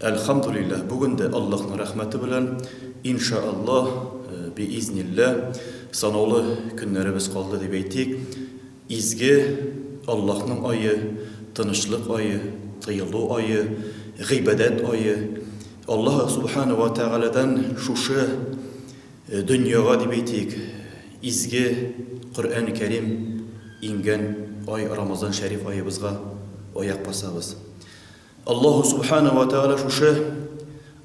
Әлхәмдүлилләһ, бүген дә Аллаһның рәхмәте белән, ин ша Аллаһ, би-изнилләһ, санаулы көннәребез калды дип әйтик, изге Аллаһның ае, тынычлык ае, тыелу ае, гыйбадәт ае. Аллаһ Субхана уа Тәгаләдән шушы дөньяга дип әйтик, изге Коръәни Кәрим иңгән ай Рамазан шәриф аебызга аяк басабыз. Аллаһу Субхана вә Тәгалә шушы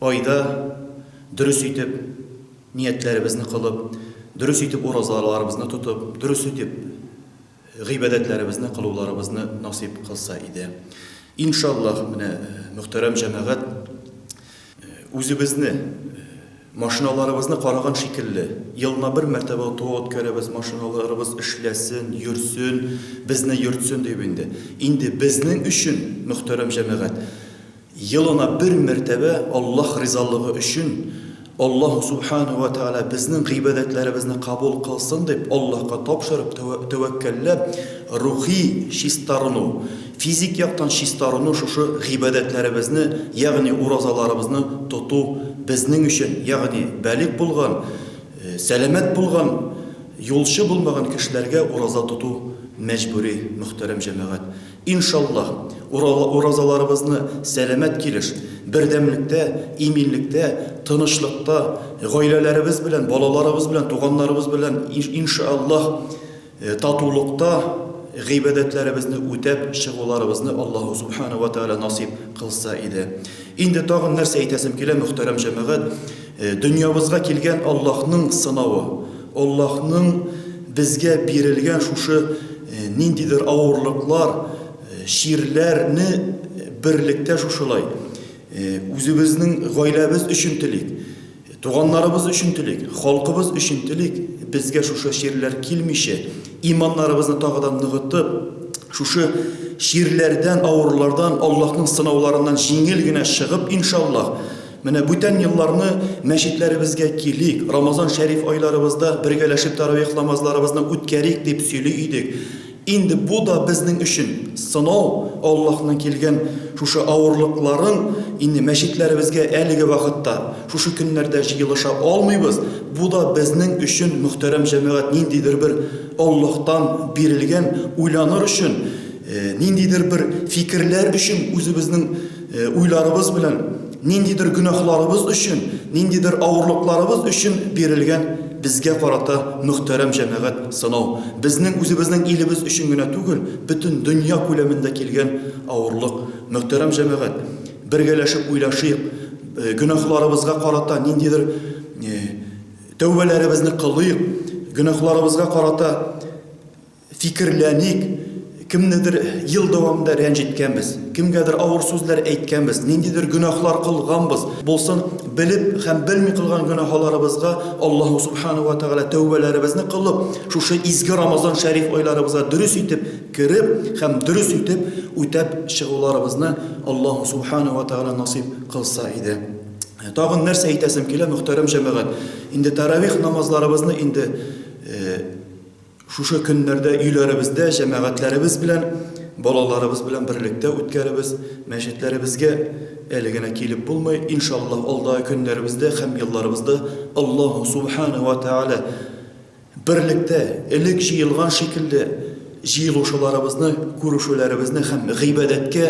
айда дөрес итеп ниятләребезне кылып, дөрес итеп уразаларыбызны тотып, дөрес итеп гыйбадәтләребезне кылуларыбызны насыйп кылса иде. Иншаллаһ, менә мөхтәрәм җәмәгать, Үзебезне, машиналарыбызны караган шикелле, елына бер мәртәбә ОТО үткәрәбез, машиналарыбыз эшләсен, йөрсен, безне йөртсен дип инде. Инде безнең өчен, мөхтәрәм җәмәгать, елына бер мәртәбә Аллаһ ризалыгы өчен, Аллаһу Сүбхәнәһү вә Тәгалә безнең гыйбадәтләребезне кабул кылсын дип, Аллаһка тапшырып, тәвәккәлләп, рухи чистарыну, Физик яктан чистаруны шушы гыйбадәтләребезне, ягъни уразаларыбызны тоту безнең өчен, ягъни балигъ булган, сәламәт булган, юлчы булмаган кешеләргә ураза тоту мәҗбүри, мөхтәрәм җәмәгать. Иншаллаһ, уразаларыбызны сәламәт килеш, бердәмлектә, иминлектә, тынычлыкта, гаиләләребез белән, балаларыбыз белән, туганнарыбыз белән, иншаллаһ, Татулыкта гыйбадәтләребезне үтәп чыгуларыбызны Аллаһу Субхана вә Тәгалә насыйп кылса иде. Инде тагын нәрсә әйтәсем килә, мөхтәрәм җәмәгать, дөньябызга килгән Аллаһның сынавы, Аллаһның безгә бирелгән шушы ниндидер авырлыклар, чирләрне берлектә шушылай үзебезнең гаиләбез өчен телик. Туганнарыбыз өчен телик, халкыбыз өчен телик, безгә шушы чирләр килмичә, иманнарыбызны тагы да ныгытып, шушы чирләрдән, авырлардан, Аллаһның сынауларыннан җиңел генә чыгып, иншаллаһ, менә бүтән елларны мәчетләребезгә килик, Рамазан шәриф айларыбызда бергәләшеп тәравих намазларыбызны үткәрик, дип сөйли идек. Инде бу да безнең өчен сынау, Аллаһның килгән шушы авырлыкларын инде мәчетләребезгә әлеге вакытта, шушы көннәрдә җыелыша алмыйбыз, бу да безнең өчен, мөхтәрәм җәмәгать, ниндидер бер Аллаһтан бирелгән уйланыр өчен, ниндидер бер фикерләр өчен үзебезнең уйларыбыз белән, Ниндидер гөнаһларыбыз өчен, ниндидер авырлыкларыбыз өчен бирелгән безгә карата, мөхтәрәм җәмәгать, сынау. Безнең үзебезнең илебез өчен генә түгел, бөтен дөнья күләмендә килгән авырлык. Мөхтәрәм җәмәгать, бергәләшеп уйлашыйк, гөнаһларыбызга карата ниндидер тәүбәләребезне кылыйк, гөнаһларыбызга карата Фикерләник, кемнедер ел дәвамында рәнҗеткәнбез, кемгәдер авыр сүзләр әйткәнбез, ниндидер гөнаһлар кылганбыз булсын, белеп һәм белми кылган гөнаһаларыбызга Аллаһу Субхана ва Тәгалә тәүбәләребезне кылып, шушы изге Рамазан шәриф айларыбызга дөрес итеп кереп һәм дөрес итеп үтәп чыгуларыбызны Аллаһу Субхана ва Тәгалә насыйп кылса иде. Тагын нәрсә әйтәсем килә, мөхтәрәм җәмәгать, инде тәравих намазларыбызны инде Шушы көннәрдә өйләребездә җәмәгатьләребез белән, балаларыбыз белән берлектә үткәребез. Мәчетләребезгә әле генә килеп булмый. Иншаллаһ, алдагы көннәребездә һәм елларыбызда Аллаһу Субхана ва Тәгалә берлектә, элек җыелган шикелле, җыелушыларыбызны, күрешүләребезне һәм гыйбадәткә